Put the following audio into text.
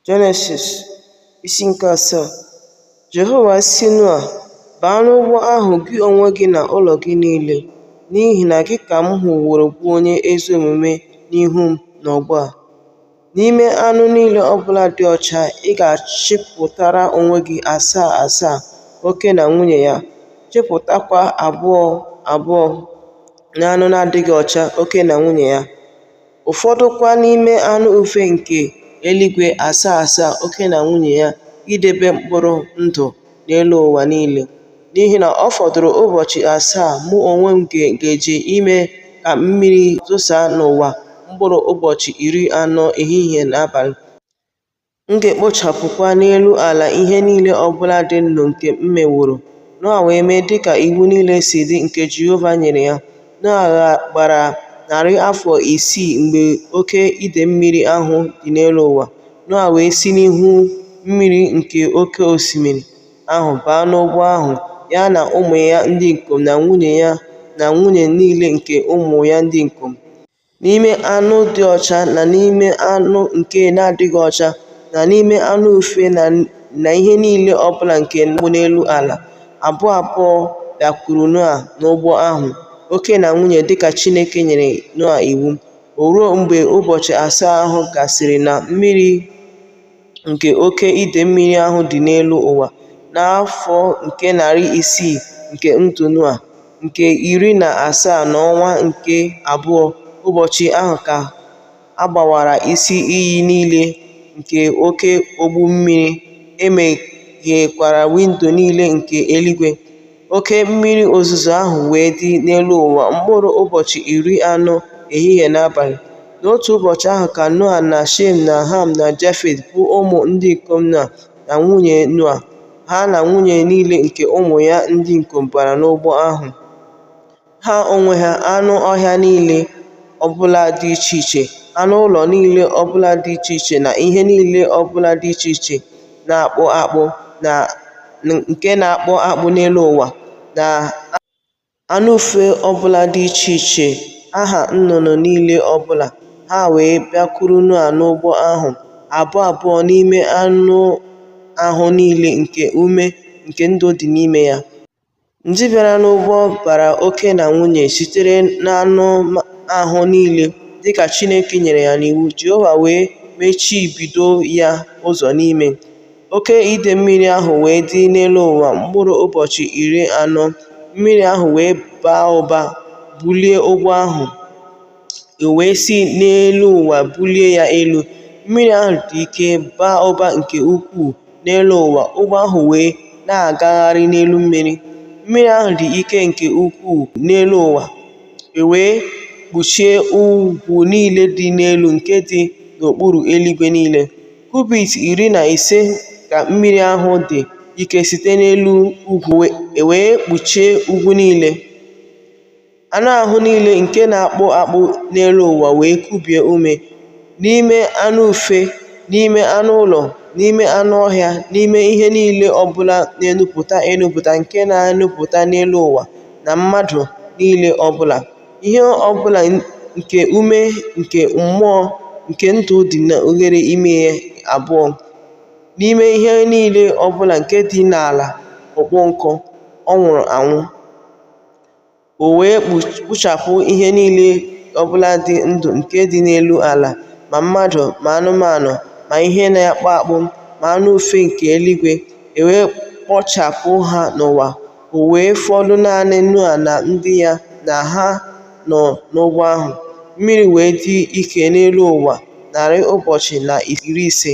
Jenesis isi nke asaa Jehova sị Noa, Baa n'ụgbọ ahụ gị onwe gị na ụlọ gị niile, n'ihi na gị ka m hụworo bụ onye ezi omume n'ihu m n'ọgbọ a. N'ime anụ niile ọ bụla dị ọcha, ị ga-achịpụtara onwe gị asaa asaa, oke na nwunye ya, chịpụtakwa abụọ abụọ n'anụ na-adịghị ọcha, oke na nwunye ya. ụfọdụkwa n'ime anụ ufe nke eluigwe asaa asaa oke na nwunye ya idebe mkpụrụ ndụ n'elu ụwa niile. N'ihi na ọ fọdụrụ ụbọchị asaa mụ onwe m ga-eji ime ka mmiri zosaa n'ụwa mkpụrụ ụbọchị iri anọ ehihie na abalị. M ga-ekpochapụkwa n'elu ala ihe niile ọ bụla dị ndụ nke m meworo. Noa wee mee dị ka iwu niile si dị nke Jehova nyere ya. Noa gbara narị afọ isii mgbe oke ide mmiri ahụ dị n'elu ụwa. Noa wee si n'ihu mmiri nke oke osimiri ahụ baa n'ụgbọ ahụ, ya na ụmụ ya ndị ikom na nwunye ya na nwunye niile nke ụmụ ya ndị ikom. N'ime anụ dị ọcha na n'ime anụ nke na-adịghị ọcha, na n'ime anụ ufe na ihe niile ọ bụla nke na-akpụ n'elu ala, abụọ abụọ bịakwuru Noa n'ụgbọ ahụ, oke na nwunye dị ka Chineke nyere Noa iwu. O ruo mgbe ụbọchị asaa ahụ gasịrị na mmiri nke oke ide mmiri ahụ dị n'elu ụwa n'afọ nke narị isii nke ndụ Noa, nke iri na asaa n'ọnwa nke abụọ, ụbọchị ahụ ka a gbawara isi iyi niile nke oke ogbu mmiri, e meghekwara windo niile nke eluigwe. Oke mmiri ozuzo ahụ wee dị n'elu ụwa mkpụrụ ụbọchị iri anọ, ehihie na abalị. N'otu ụbọchị ahụ ka Noa na Shem na Ham na Jafet, bụ ụmụ ndị ikom Noa, na nwunye Noa, ha na nwunye niile nke ụmụ ya ndị ikom bara n'ụgbọ ahụ. ha onwe ha, anụ ọhịa niile ọbụla dị iche iche, anụ ụlọ niile ọbụla dị iche iche na ihe niile ọbụla dị iche iche na-akpụ akpụ na nke na-akpụ akpụ n'elu ụwa na anụ ufe ọbụla dị iche iche, aha nnụnụ niile ọbụla. Ha wee bịakwuru Noa n'ụgbọ ahụ, abụọ abụọ n'ime anụ ahụ niile nke ume nke ndụ dị n'ime ya. Ndị bịara n'ụgbọ bara oke na nwunye sitere n'anụ ahụ niile, dị ka Chineke nyere ya n'iwu, Jehova wee mechibido ya ụzọ n'ime. Oke ide mmiri ahụ wee dị n'elu ụwa mkpụrụ ụbọchị iri anọ, mmiri ahụ wee baa ụba bulie ụgbọ ahụ. e wee si n'elu ụwa bulie ya elu, mmiri ahụ dị ike baa ụba nke ukwuu n'elu ụwa, ụgbọ ahụ wee na-agagharị n'elu mmiri. Mmiri ahụ dị ike nke ukwuu n'elu ụwa, e wee kpuchie ugwu niile dị n'elu nke dị n'okpuru eluigwe niile. Kubit iri na ise ka mmiri ahụ dị ike site n'elu ugwu, e wee kpuchie ugwu niile. Anụ ahụ niile nke na-akpụ akpụ n'elu ụwa wee kubie ume, n'ime anụ ufe, n'ime anụ ụlọ, n'ime anụ ọhịa, n'ime ihe niile ọ bụla na-enupụta enupụta nke na-enupụta n'elu ụwa, na mmadụ niile ọ bụla, ihe ọ bụla nke ume nke mmụọ nke ndụ dị n'oghere imi ya abụọ, n'ime ihe niile ọ bụla nke dị n'ala ọkpọ nkụ, ọ nwụrụ anwụ. O wee kpochapụ ihe niile ọ bụla dị ndụ nke dị n'elu ala, ma mmadụ ma anụmanụ ma ihe na-akpụ akpụ ma anụ ufe nke eluigwe, e wee kpochapụ ha n'ụwa. O wee fọdụ naanị Noa na ndị ya na ha nọ n'ụgbọ ahụ. Mmiri wee dị ike n'elu ụwa narị ụbọchị na iri ise.